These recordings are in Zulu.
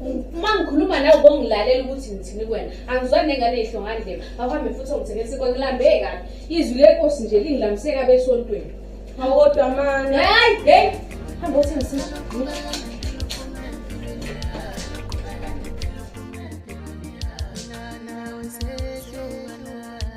uma ngikhuluma nawe kongilalela ukuthi ngithini kuwena angizwani nengane ehlongandleba akuhambe futhi ongithengela sikwa ngilambe kabi izwi lenkosi nje lingilamiseka besontweni awodwa mani hayi hey hamba uthengisa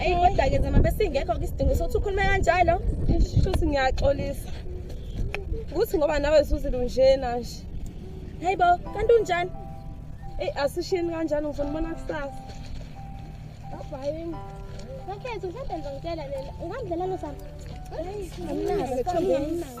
Ayi kodwa ke zama besingekho isidingo sokuthi ukhulume kanjalo. Shuthi ngiyaxolisa. Ukuthi ngoba nawe zuzile unjena nje. Hayibo, kanti unjani? Ey asishini kanjani ngifuna ubona kusasa. Bye. Ngakhetha uhlale ngizongitshela lena. Ungamdlala lo sami. Hayi, ngamnazi, ngamnazi.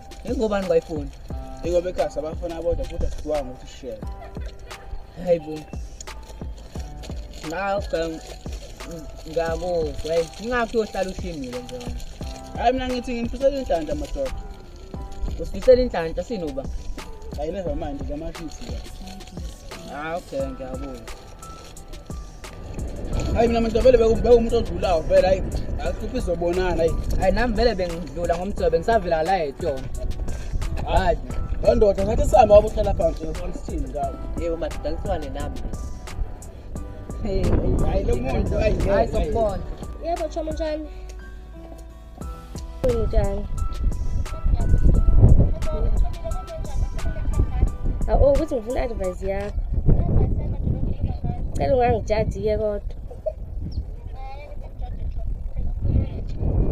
ingobani bayifuni ingoba ekhasi abafuna abodwa futhi asikwanga ukuthi share hayi bo ngakho ngakuzwa ngakho uyohlala ushimile nje hayi mina ngithi ngimfisela inhlanhla madoda usifisela inhlanhla sinoba ayileva manje zamashisi ah okay ngiyabona hayi mina manje vele bekumbeka umuntu odlulayo vele hayi akuphi izobonana hayi hayi nami vele bengidlula ngomthobe ngisavela la etyona hayi loo ndoda ngathi sihamba wabo uhlala phansi sithini ngawo yebo madoda ngiswane nami hayi lo muntu hayi sokubona yebo choma njani Kunjani? Awu ukuthi ngifuna advice yakho. Cela ungangijaji-ke kodwa.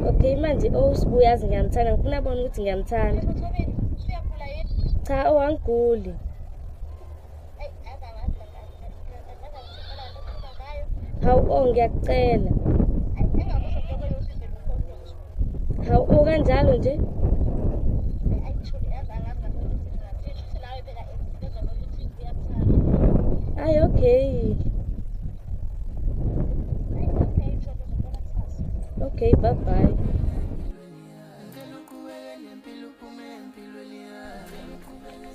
Okay manje owusibu uyazi ngiyamthanda ngifuna abone ukuthi ngiyamthanda. Cha owangiguli. hawu o oh, ngiyakucela hawu o oh, kanjalo nje ayi okay okay bye bye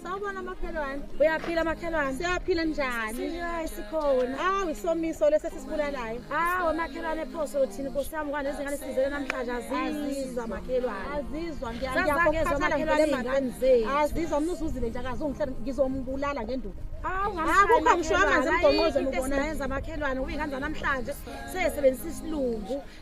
Sawubona makhelwane. Uyaphila makhelwane. Siyaphila njani? Siyayi sikhona. Hawu isomiso lesi esisibulalayo. Hawu makhelwane phoso uthini Nkosi yami kwani izingane sizele namhlanje azizwa makhelwane. Azizwa ngiyangizwa makhelwane ingane zethu. Azizwa mnusu uzile nje akazongihlela ngizombulala ngenduku. Hawu ngamshaya ngisho amanzi emgonqozo ngibona yenza makhelwane ubingane namhlanje sesebenzisa isilungu.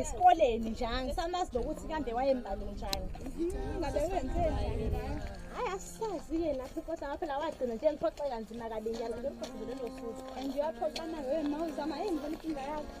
esikoleni nje angisamazi nokuthi kambe wayembali njani ngabe wenzeni hayi asisazi-ke lapho inkosi ngapha la wagcina nje ngiphoxeka nzima kabi njalo ngemphoxelelo futhi and uyaphoxana wewe ma uzama eyi ngibona inkinga yakho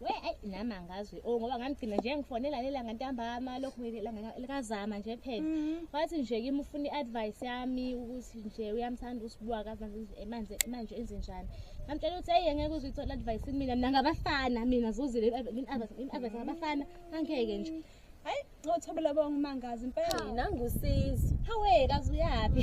we ayi nami angazi o oh, ngoba ngamgcina nje ngifonela lelanga ntambama lokhu likazama nje phela mhm. wathi nje kimi ufuna i-advice yami ukuthi nje uyamthanda usibuka kamanje manje enze njani ngamtshela ukuthi eyi ngeke uze uyithole advice kumina mina ngabafana mina zuzile i-advice ngabafana angeke nje hayi ngothobela bonke umangazi impela nangusizo hawe kazi uyaphi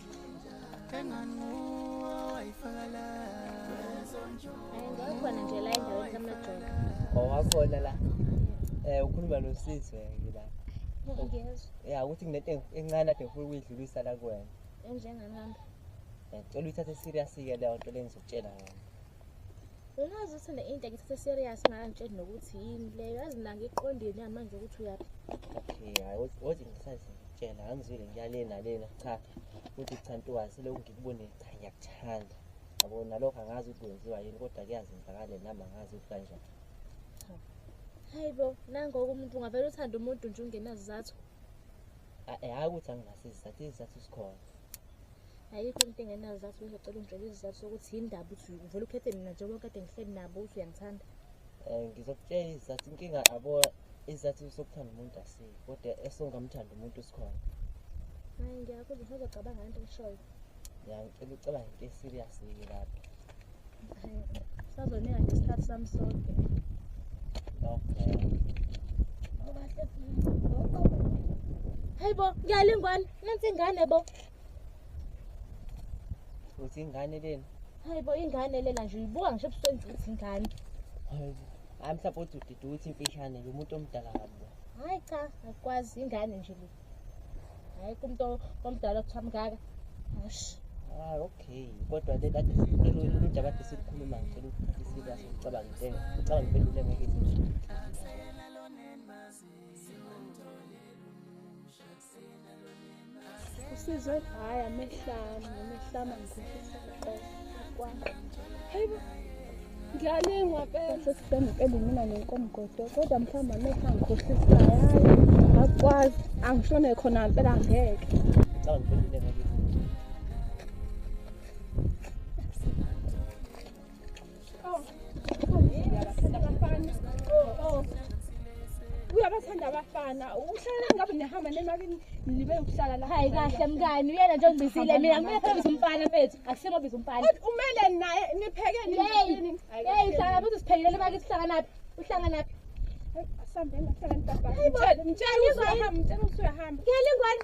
Ngawukhona nje la endaweni kamajoni. Owakhona la. Eh ukhuluma nosisi wena la. Ngiyezwa. Ya ukuthi nginento encane ade ngifuna ukuyidlulisa la kuwena. Enjenganami. Ngicela uyithathe serious ke leyo nto lengizokutshela yona. Unazi ukuthi ne into ngithathe serious manje nokuthi yini leyo yazi mina ngiqondeni manje ukuthi uyaphi. Okay, hayi wothi ngisazi ngitshela angizwile ngiyalena lena cha uthi cha ntokazi lokhu ngikubone cha ngiyakuthanda. Yabo nalokho angazi ukuthi kwenziwa yini kodwa kuyazenzakala nami angazi ukuthi kanjani. Hayi bo, nangoku umuntu ungavele uthande umuntu nje ungenazizathu. Eh, hayi ukuthi anginasizathu, izizathu sikhona. ayikho into engenazizathu bezocela ungitshela izizathu sokuthi yini ndaba uthi uvele ukhethe mina njengoba kade ngihleli nabo uthi uyangithanda um ngizokutshela izizathu inkinga abo izizathu sokuthanda umuntu asile kodwa esongamthanda umuntu sikhona hayi ngiyakuzwa usazocabanga into eshoyo ya ngicela ucabanga into eserious yike lapho sazonika nje isikhathi sami sonke okay hayi bo ngiyalingwana nansi ingane bo Uthi ingane lena. Hayi bo ingane lena nje uyibuka ngisho ebusweni ukuthi ingane. Hayi mhlawumbe uthi udidi uthi imfishane lo muntu omdala kabi. Hayi cha akwazi ingane nje le. Hayi kumuntu omdala kuthiwa mngaka. Hashi. Ah okay kodwa le kade sicela ukuthi abade sikhuluma ngicela ukuthi serious ngicabanga into ngicabanga impendule ngeke. usizwe hayi amehlami amehlami angikhohlisa uqobo kwami hayibo ngiyalingwa phela sesibhenge impela mina nenkomgodo kodwa mhlawumbe amehlo angikhohlisa hayi akwazi angishone khona impela ngeke uyabathanda abafana uhlala ngabe nihamba nemakini nibe ukuhlala la hayi kahle mngani uyena nje ongibizile mina kumele phela biza umfana mfethu akusimo biza umfana umele naye nipheke nini hey sala buthi siphekile lemaki sihlanganaphi uhlanganaphi asambeni ahlangana baba ngitshela ngitshela uzahamba ngitshela usuyahamba ngiyalingwana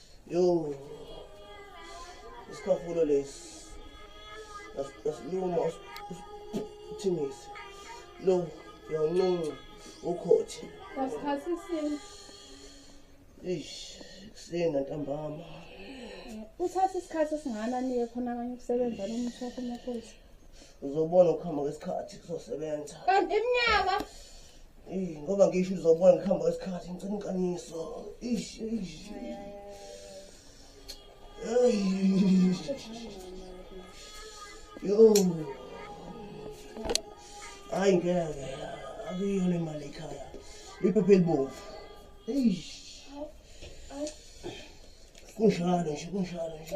yo isikhafulo lesi asiluma uthingise lo yawuncinci ukhothi ngasikhathi sini ish kusena ntambama uthatha isikhathi esingana niye khona kanye ukusebenza lo muthi wakho emaphoyisa uzobona ukuhamba kwesikhathi kuzosebenza kanti iminyaka Eyi ngoba ngisho uzobona ngihamba kwesikhathi ngicela inqaniso. Ish ish. Eyi. Yo. Hayi ngeke. Akuyona imali ekhaya. Iphepha elibomvu. Eish. Kunjalo nje kunjalo nje.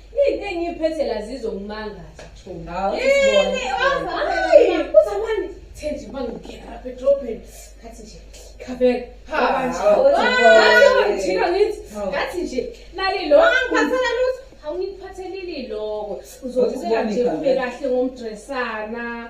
Into engiphethe la zizongimangaza Thumbu. Hawu Yini sibona. Hayi, uzamani thenje mangingena lapha edrobheni. Ngathi nje khabeka. Ha, Baba nje. hawu, Hawu, Thumbu. hawu, ngijika ngithi Hawu. ngathi nje nali lo angiphathela lutho. Hawu ngikuphathelile iloko. Uzothi Uzokubona sengathi igama. ube kahle ngomdresana.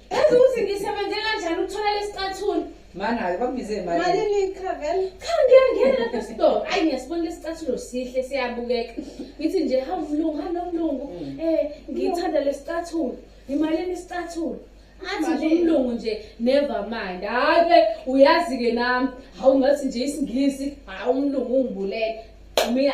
Yazi ukuthi ngisebenze kanjani ukuthola lesicathulo. Manalo bakubize imali. Malini iCravel? Cha ngiyangena lapha esitolo. Ayi ngiyasibona lesicathulo sihle siyabukeka. Ngithi nje hawu mlungu, hawu nomlungu. Mm. Eh ngithanda lesicathulo. Imalini isicathulo? athi nje umlungu nje never mind hayi ke uyazi ke nami hawu ngathi nje isingisi hawu umlungu ungibulele mina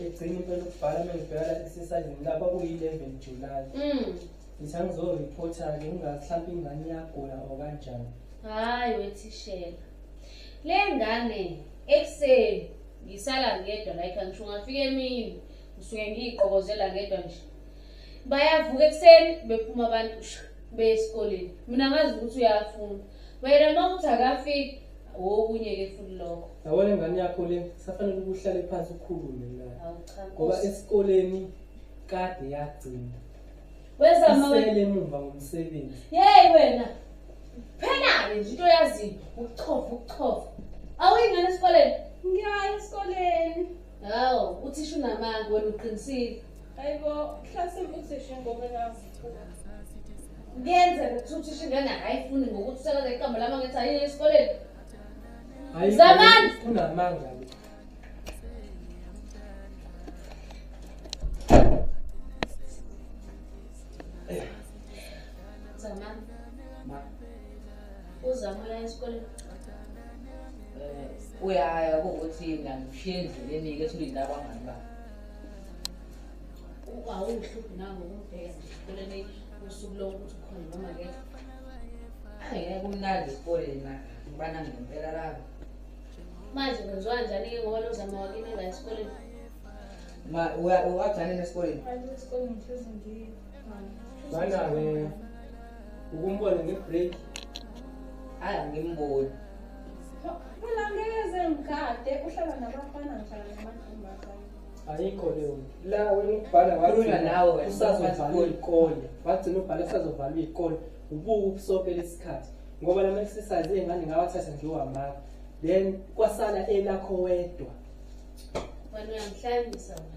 egcina impela ukubhala uma ngibheka la exercisini lapha kuyi-eleven july Mm. ngithi angizoreporter-ke ngingazi mhlawumpe ingane iyagula or kanjani Hayi wethishela. Le ngane ekuseni ngisala ngedwa la ekhaya ngisho ngafika emini ngisuke ngiyiqokozela ngedwa nje. Bayavuka ekuseni bephuma abantu shu, beye esikoleni. Mina ngazi ukuthi uyafunda. Wena mawuthi akafiki okunye ke futhi lokho. Yabona ingane yakho le safanele ukuhlale phansi ukhulume la. Ngoba esikoleni kade yagcina. Weza mama. Isele emuva ngomsebenzi. Hey wena. Phela ke into yazi ukuchofa ukuchofa. Awuyingane esikoleni? Ngiyayi esikoleni. Hawu, uthisha unamanga wena uqinisile. Hayibo, mhlasimbe uthisha ngoba nazi. Ngenze ukuthi uthisha ingane akayifuni ngokuthi usekela iqembu lama ngithi ayile esikoleni. Zamani! Unamanga. uzabuya esikoleni eh, uyaya kuwukuthi ngangishiye endleleni-ke ethi ulinde abangani ba awuhluphi nango kumbheka esikoleni usuku lowo ukuthi ukhona noma ke angeke kumnandi esikoleni na ngibana ngempela labo manje kwenziwa njani-ke ngoba lozama wakini engayesikoleni wagcane nesikoleni Ngana-ke ukumbona nge-break hayi angimboni mina ngeze ngigade uhlala nabafana ngihlala namantombazane ayikho leyo la wena ukubhala wakhuluma nawe wena usazovalwa iy'kole wagcina ubhala usazovalwa iy'kole ubuke ubusoke lesikhathi ngoba lama exercise ey'ngane ngawathatha nje uhamaka then kwasala elakho wedwa wena uyangihlanyisa wena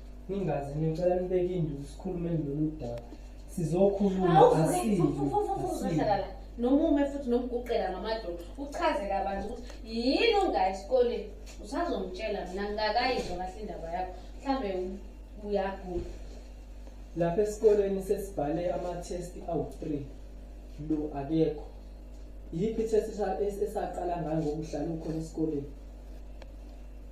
ningazi ngicela nibeke induku sikhulumeni lolu daba sizokhuluma asizohlala la nomume futhi nomguqela ngamadolo uchaze kabanzi ukuthi yini ungayi esikoleni usazongitshela mina ngingakayizwa kahle indaba yakho mhlawumbe uyagula lapha esikoleni sesibhale amathesti awu-three lo akekho yiphi ithesti esaqala ngayo ngokuhlala ukhona esikoleni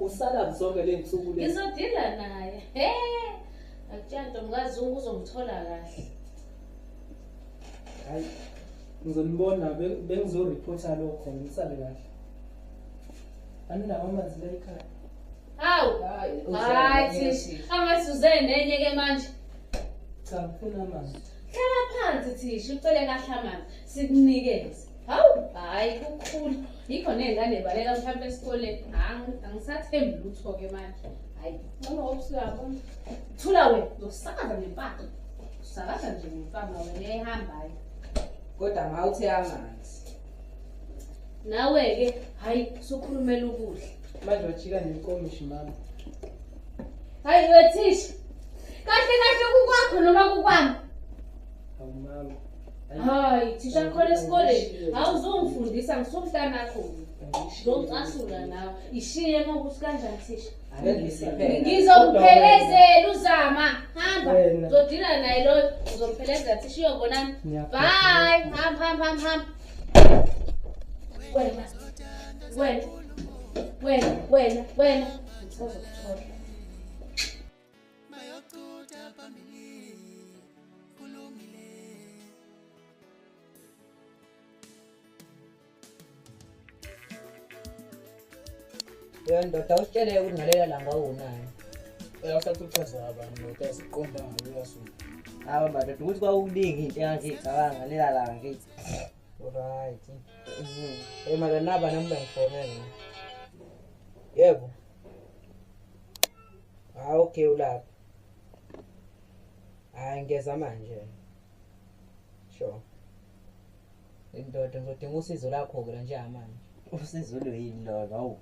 Usala zonke le nsuku le. Ngizodila naye. He. Akutshanta mkazi uzomthola kahle. Hayi. Ngizonibona bengizo reporta lokho ngisale kahle. Aninawo amanzi la ekhaya. Hawu. Hayi thishi. Amasuze nenye ke manje. Cha ngifuna amanzi. Hlala phansi thishi ucele kahle amanzi sikunikeze. hawu hhayi kukhulu yikho ney'ngane y'baleka mhlawumpe esikoleni angisathembi lutho-ke manje hhayi ncono obusuyabona thula wena yosakaza ngempama usakaza nje ngempama wena eyihambayo kodwa ma uthe amanzi nawe-ke hhayi sukhulumela ukudla manje wajika nenkomishi mama hhayi wethisha kahle kahle kukwakho noma kukwami hayi thisha khona esikoleni awuzongifundisa ngisumhlanakho ngizomcasula nawe ishiye ngokuthi kanjani thisha ngizokuphelezela uzama hamba uzodila naye loyo uzomphelezela thisha iyobonani bye hamba hamba hamba hamba wena wena wena wena wena bayochutha phambili kulungile yo ndoda usitsheleke ukuthi ngalela langa uwunani uyasathuthaza abantu ndoda siqonda ngayo uyasuka awa madoda ukuthi kwawukuningi into engathi icabanga ngalela langa kithi right eyi madoda naba nami bangifonele yebo Ah okay ulapha. Hayi ngeza manje. Sure. Indoda ngizodinga usizo lakho ke nje manje. Usizo lo yini lo hawu.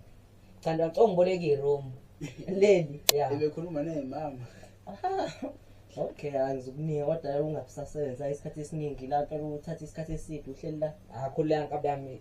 Cha ngicela ngiboleke iroom. Leli. Yeah. Ebekhuluma naye mama. Okay, angizukuniya kodwa ungabisasebenza isikhathi esiningi la, uthatha isikhathi eside uhleli la. Akho ah, la nkabi yami.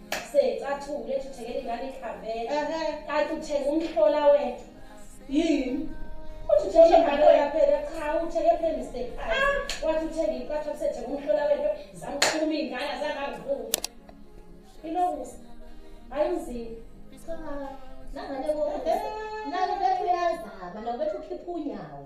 secathule ethi uthengela ingane ikhavela kanti uthenga umhlola wethu yini uthi uthenga ingane yaphela cha uthenge phela mistake ah! wathi uthenga impatho kusethenga umhlola wethu zamqhuma iy'ngane azangangivumi ilokusa hayi mzini nangane nalo bethu uyazama nalo bethu ukhipha unyawo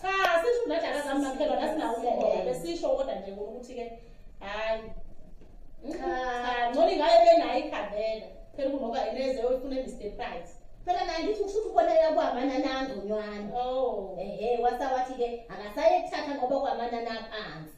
cha sisho unajaka zami maphelo nasinawumoya besisho kodwa nje ukuthi-ke hhayi cha ngcono ingabe benayo ikhavela phela kunoba ineze oyifuna emr price phela naye ngithi ukushuthi uboleka kwamanana angconywana oh. ehe wasawathi-ke akasaye kuthatha ngoba kwamanana aphansi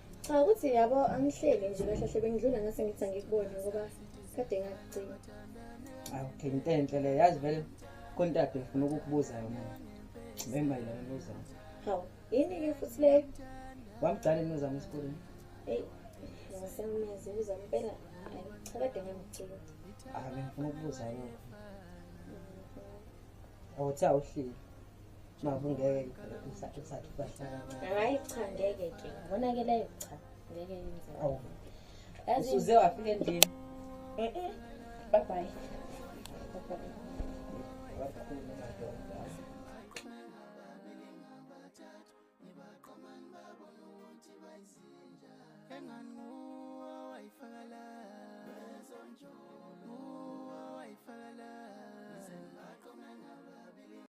Cha ukuthi yabo angihleli nje kahle hle bengidlula ngase ngithi angikubone ngoba kade ngakugcina. Awu ke into enhle le yazi vele kontato ngifuna ukukubuza yona. Ngimemba yona buza. Hawu yini ke futhi le? Wamgcane nozama esikoleni. Hey. Ngisamnyazi uza impela. Cha kade ngamgcina. Ah ngifuna ukubuza yona. Awuthe awuhleli. Babu ngeke usathu sathu bahlala. Hayi cha ngeke ke. Ngonakeleyo cha ngeke yenze. Awu. Yazi uze wafika endlini. Eh eh. Bye bye. Bye bye.